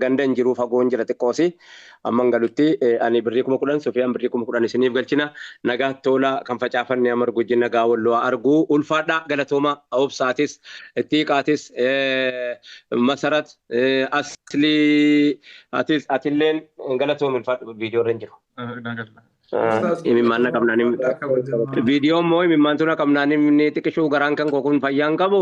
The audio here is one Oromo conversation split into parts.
Ganda hin jiruu fagoon jira xiqqoosi amman galutti ani birrii kuma kudhan sufiyaan birrii kuma kudhan isiniif galchina nagaatti toolaa kan facaafanne haa margu ijji nagaa wallu haa argu ulfaadhaa galatoomaa obsaatis ittiiqaatis masarat aslii atis atilleen galatoomi ulfaadhu viidiyoo irra hin jiru. Imimmaan na qabnaan viidiyoo immoo imimmaantu na qabnaan inni xiqishuu garaan kan koo kun fayyaan qabu.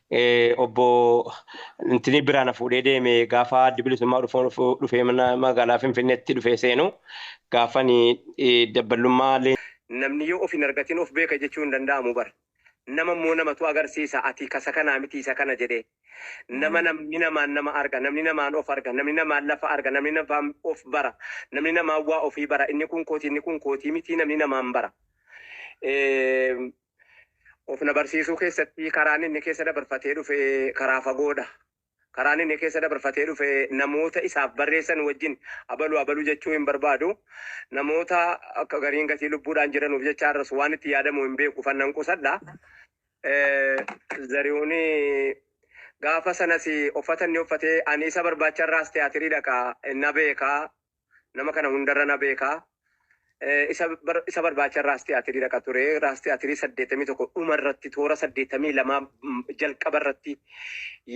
obbo Intinii biraa na fuudhee deeme gaafa addi bilisummaa dhufoon dhufee magaalaa Finfinneetti dhufee seenu gaafan dabballummaa Namni yoo of hin argatin of beeka jechuu hin danda'amu bar. Nama immoo namatu agarsiisa ati kasa kanaa miti isa kana jedhee. Nama namni namaan nama arga, namni namaan of arga, namni namaan lafa arga, namni namaan of bara, namni namaan waa ofii bara, inni kun kooti inni kun kootii mitii namni namaan bara. Of na barsiisuu keessatti karaan inni keessa dabarfatee dhufe karaa fagoodha. Karaan inni keessa dabarfatee dhufe namoota isaaf barreessan wajjin abalu abalu jechuu hin barbaadu. Namoota akka gariin gatii lubbuudhaan jiranuuf jecha har'as waan itti yaadamu hin beeku fannan qusadha. Zarihuun gaafa sanas uffata inni uffatee ani isa barbaacharraas tiyaatirii dhaqa na beeka Nama kana hundarra na beeka. Eh, Isa bar- isa barbaacha raastii atirii dhaqa ture. Raastii atirii 81 dhuma irratti toora 82 mm, jalqaba irratti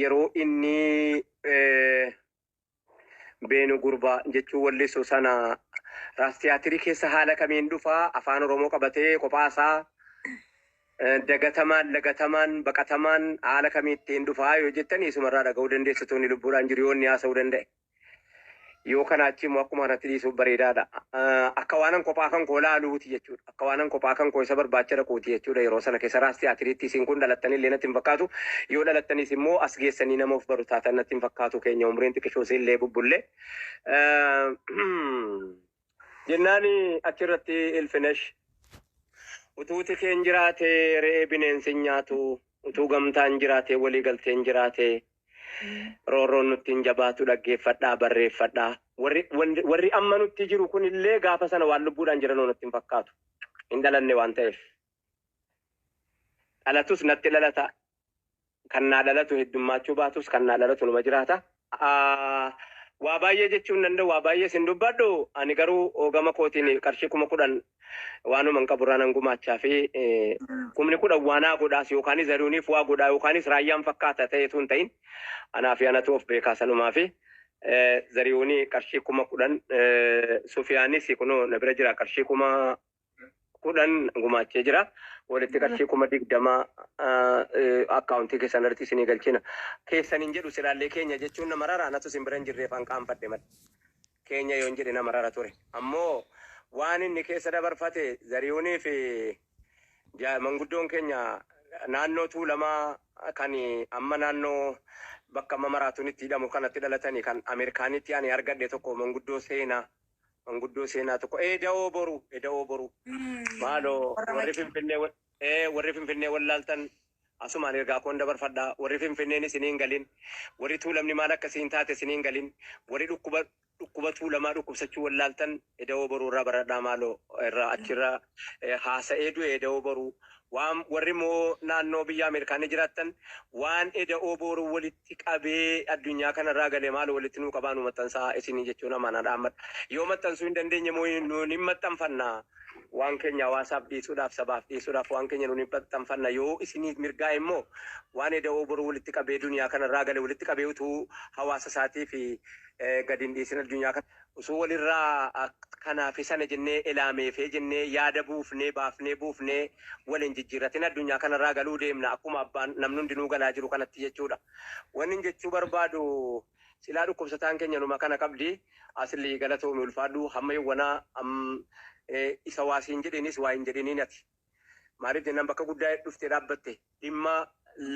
yeroo inni eh, beenu gurbaa jechuun wallisu sana raastiyaatirii keessa haala kamiin dhufa afaan oromoo qabatee kophaasaa eh, dagatamaan lagatamaan baqatamaan haala kamiittiin dhufaa yoo jettan isumarraa dhaga'uu dandeessitoonni lubbuudhaan jiru yoo inni haasa'uu danda'e. Yoo kanaa achii immoo akkuma kanatti dhiisuuf bareedaadha. Ah, Akka waanan kophaa kan koo laaluuti jechuudha. Akka waanan kophaa kan koo isa barbaacha dhaquuti jechuudha. Yeroo sana keessa raas tiyaatiriitti isin kun dhalattanii illee natti hin fakkaatu. Yoo dhalattanis immoo as geessanii nama of baru taatan natti hin fakkaatu keenya umriin xiqishoos illee bubbullee. Ah, Jennaani achi irratti Ilfinesh, Utuu tikeen jiraatee re'ee bineensi hin nyaatu, utuu gamtaan jiraatee walii galteen jiraate, roorroon nutti hin jabaatu dhaggeeffadhaa, barreeffadhaa. Warri, warri, warri amma nutti jiru kun illee gaafa sana waan lubbuudhaan jiranoo natti hin fakkaatu. Hin dhalanne waan ta'eef. Dhalatus natti dhalata, Kan naa dhalatu heddummaachuu baatus kan naa dhalatu numa jiraata. Waa baay'ee jechuu hin danda'u, waa baay'ees hin dubbadhu. Ani garuu gama kootiin qarshii kuma kudhan waanuman qaburraa nan gumaacha fi kumni kudhan waa naa godhaas yookaanis Zarihuuniif waa godhaa yookaanis Raayyaan fakkaata ta'ee utuu hin ta'in anaa fi anatu of beekaa sanumaa fi Zarihuuni qarshii kuma kudhan Sufiyaanis kunoo na bira jira qarshii kuma kudhan gumaachee jira. Walitti qarshii kuma digdama akkaawuntii keessan irratti isinii galchina. Keessan hin jedhu silaallee keenya jechuun na marara anatu isin bira hin jirreef an qaanfadhe malee. Keenya yoon jedhe na marara ture. Ammoo waan inni keessa dabarfate zariyuunii fi ja- manguddoon keenya naannoo tuulamaa kan amma naannoo bakka amma maraatuun itti hidhamu kanatti dhalatanii kan Ameerikaanitti ani argadhe tokko manguddoo seenaa manguddoo seenaa tokko Eda'oo Boruu Eda'oo Boruu maaloo Warra warri maccaa. Finfinnee wa- ee, warri Finfinnee wallaaltan asumaan ergaa koon dabarfadha warri Finfinneen isiniin galin warri tuulamni maal akka siin taate isiniin galin warri dhukkuba dhukkuba tuulamaa dhukkubsachuu wallaaltan Eda'oo Boruu irraa baradhaa maaloo irraa achirraa ee, haasa'ee du'e Eda'oo Boruu waan warri immoo naannoo biyya Ameerikaanii jiraattan waan Eda'oo Boruu walitti ti qabee addunyaa kana irraa gale maalo walitti nuu qabaa nuu maxxansaa isinii jechuun amaanaa dhaammadha. Yoo maxxansuu hin dandeenye immoo nuun hin maxxanfanna. Waan keenya hawaasaaf dhiisuudhaaf sabaaf dhiisuudhaaf waan keenya nuun hin maxxanfanna. Yoo isiniif mirgaa'e immoo waan eda'oo boruu walitti qabee duniyaa kana irraa gale walitti qabee utuu hawaasa isaatiif gad hin dhiisin addunyaa kana Osoo wal irraa kana fi sana jennee elaamee fee jennee yaada buufnee baafnee buufnee wal hin jijjiirratin addunyaa kana irraa galuu deemna akkuma abbaan namni hundinuu galaa jiru kanatti jechuu dha. Wannin jechuu barbaadu silaa dhukkubsataan keenya numa kana qabdi Asli galatoomi ulfaadhu hamma yowwanaa am isa waa siin jedheenis waa hin jedhiniin ati. Maaliif jennaan bakka guddaa dhufte dhaabbatte. Dhimma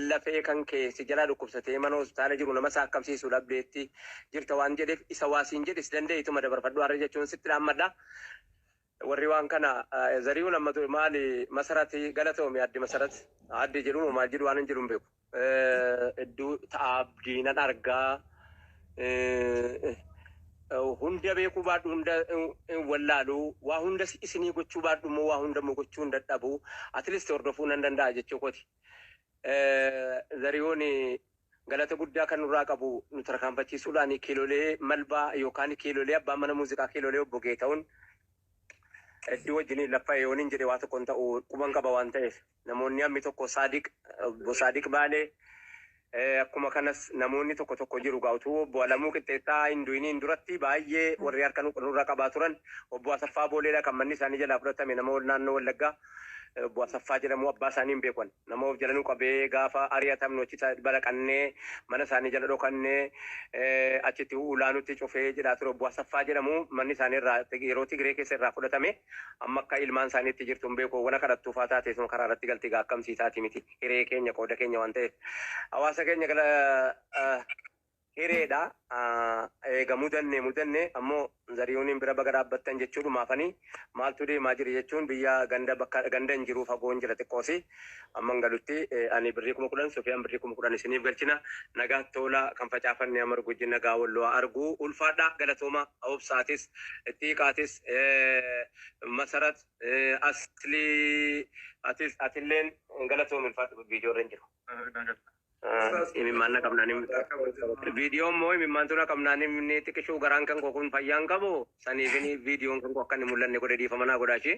lafee kan kee si jalaa dhukkubsatee mana hospitaala jiru nama saakkamsiisu dhabdeetti jirta waan jedheef isa waa siin jedhe si danda'e ituma dabarfadhu har'a jechuun sitti dhaammadha. Warri waan kana Zariyuun amma ture maali Masarati galatoomi addi Masarat addi jedhu moo maal jedhu waan hin jedhu hin beeku. Hedduu ta'a abdii nan argaa Eh, eh, hunda beekuu baadhu hunda eh, eh, wallaalu waa hunda si- isinii gochuu baadhu immoo waa hunda immoo gochuu hin dadhabu atleast hordofuu nan danda'a jechuu kooti. Eh, Zariyoon eh, galata guddaa kan nurraa qabu nu tarkaanfachiisuudhaan kiilolee malbaa yookaan kiilolee abbaa mana muuziqaa kiilolee obbo Geeta'uun hedduu wajjin lafa yooniin jedhe waa tokko hin ta'u quban qaba waan ta'eef. Namoonni hammi tokko Saadiq, Obbo Saadiq Baalee, akkuma kanas namoonni tokko tokko jiru egaa utuu Obbo Alamuu Qixxeessaa hin du'iniin duratti baay'ee warri harka nu nurra qabaa turan. Obbo Asaffaa Booleedha kan manni isaanii jalaa fudhatame nama naannoo Wallaggaa Obbo Asaffaa jedhamu abbaa isaanii hin beeku ani. Nama of jala nu qabee gaafa ari'atamnu achi ta- balaqannee mana isaanii jala dhokannee eh, achitti ulaa nutti cufee jedhaa ture Obbo Asaffaa jedhamu manni isaanii irraa yeroo Tigiree keessa irraa fudhatame. Amma akka ilmaan isaanii itti jirtu hin beeku. Wana kadhattuu faa taate isuma karaa irratti galti egaa akkam sii taati miti. Hiree keenya qooda keenya waan ta'eef. Hawaasa keenya gala hireedha. Eega mudanne mudanne ammoo zariyuuniin bira baga dhaabbattan jechuudhumaafanii maaltu deemaa jira jechuun biyya ganda bakka ganda hin jiruu fagoon jira xiqqoosii. Amman galutti ani birrii kuma kudhan Sufiyaan birrii kuma kudhan isiniif galchina. Nagaatti oolaa kan facaafanne Amar Guji nagaa Walloo haa argu. Ulfaadhaa galatoomaa Obsaatis, Ittiiqaatis, Masarat, Aslii atis atilleen galatoomi ulfaadhu viidiyoo irra hin jiru. Imimmaan na qabnaan hin viidiyoon moo imimmaantu na qabnaan hin xiqishuu garaan kan koo kun fayyaa hin qabu saniifini viidiyoon kan koo akka hin mul'anne godhe dhiifama naa godhaa ishee.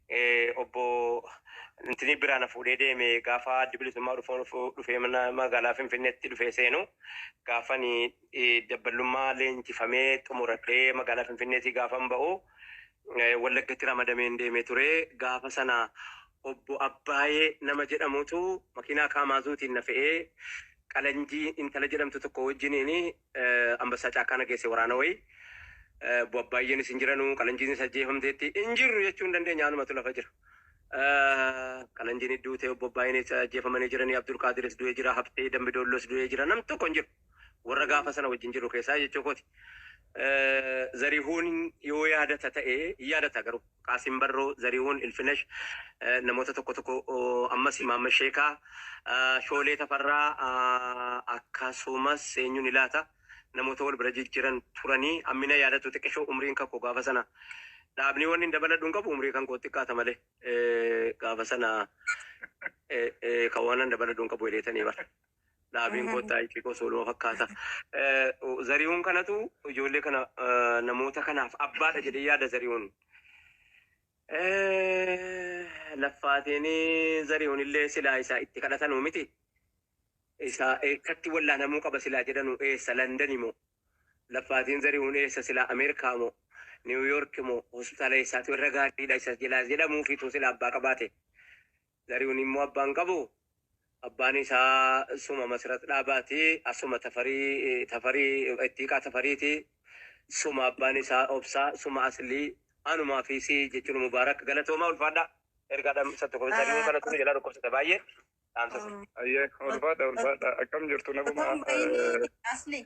eh, obbo Ntinii biraa na fuudhee deeme gaafa addi bilisummaa dhufuu dhufuu dhufee mana magaalaa Finfinneetti dhufee seenu gaafani eh, dabballummaa leenjifamee xumuradhee magaalaa Finfinneetii gaafan ba'u eh, Wallaggatti ramadameen deemee ture gaafa sana obbo Abbaayee nama jedhamutu makiinaa kaamaazuutiin na fe'ee qalanjii intala jedhamtu tokko wajjiniin Anbassaa caakkaa na geesse waraana wayii. Baay'eenis hin jiranu. Qalanjiinis ajjeefamteetti. Hin jirru jechuu hin dandeenya. Anumatu lafa jira. Qalanjiin duutee obbo Baay'eenis ajjeefamanii jiranii. Abdul Qaadiris du'ee jira. Habtee Dambi Doollos du'ee jira. Nam tokko hin jiru. Warra gaafa sana wajjin jiru keessaa jechuu kooti. Zarihuun yoo yaadata ta'e hin yaadata garuu. Qaasim Barroo, Zarihuun, Ilfinash, namoota tokko tokko ammas Imaamma Sheekaa, Shoolee Tafarraa akkasumas eenyuni laata namoota wal bira jijjiran turanii ammina yaadatu xiqqishoo umriin kakko gaafa sana dhaabnii wanni hin dabaladhu hin qabu umrii kan koo xiqqaata malee gaafa sana kan waan hin dabaladhu hin qabu jedheetanii bara. Dhaabeen koo xaayiqii koo sooluma fakkaata. Zarihuun kanatu ijoollee kana namoota kanaaf abbaadha jedhee yaada zarihuun. Laffaatiin zarihuun illee silaa isaa itti kadhatanuu miti. Isaa eessatti wallaanamuu qaba silaa jedhanuu eessa Landani moo? Laffaatiin zarihuun eessa silaa Ameerikaa moo? Niiwuyoorki moo? Hospitaala eessaatu irra gaariidha isa jedhamuufiitu silaa abbaa qabaate. Zarihuun immoo abbaa hin qabu. Abbaan isaa suma Masirat Dhaabaa ti. Asuma Tafarii, Tafarii, Ittiiqaa Tafarii ti. Suma abbaan isaa Obsaa, suma Aslii. Anumaa fi si jechuun Mubaarak. Galatoomaa ulfaadhaa. Ergaa dhaamsa tokko Zarihuun kanatu nu jalaa dhukkubsata baay'ee. Dhaamsa sana. Ayyee ulfaadha ulfaadha akkam jirtu nagumaa Asli.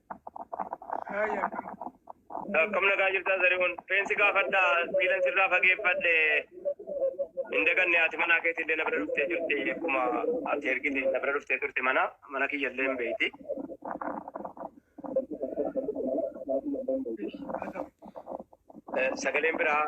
Akkam nagaa jirtaa Zarihuun? Feensi gaafadhaa miilan sirraa fageeffadhe. Hin daganne haati manaa keetii illee na bira dhuftee jirti. Akkuma ati ergite na bira dhuftee turte mana mana kiyya illee hin beekti. Eh, Sagaleen biraa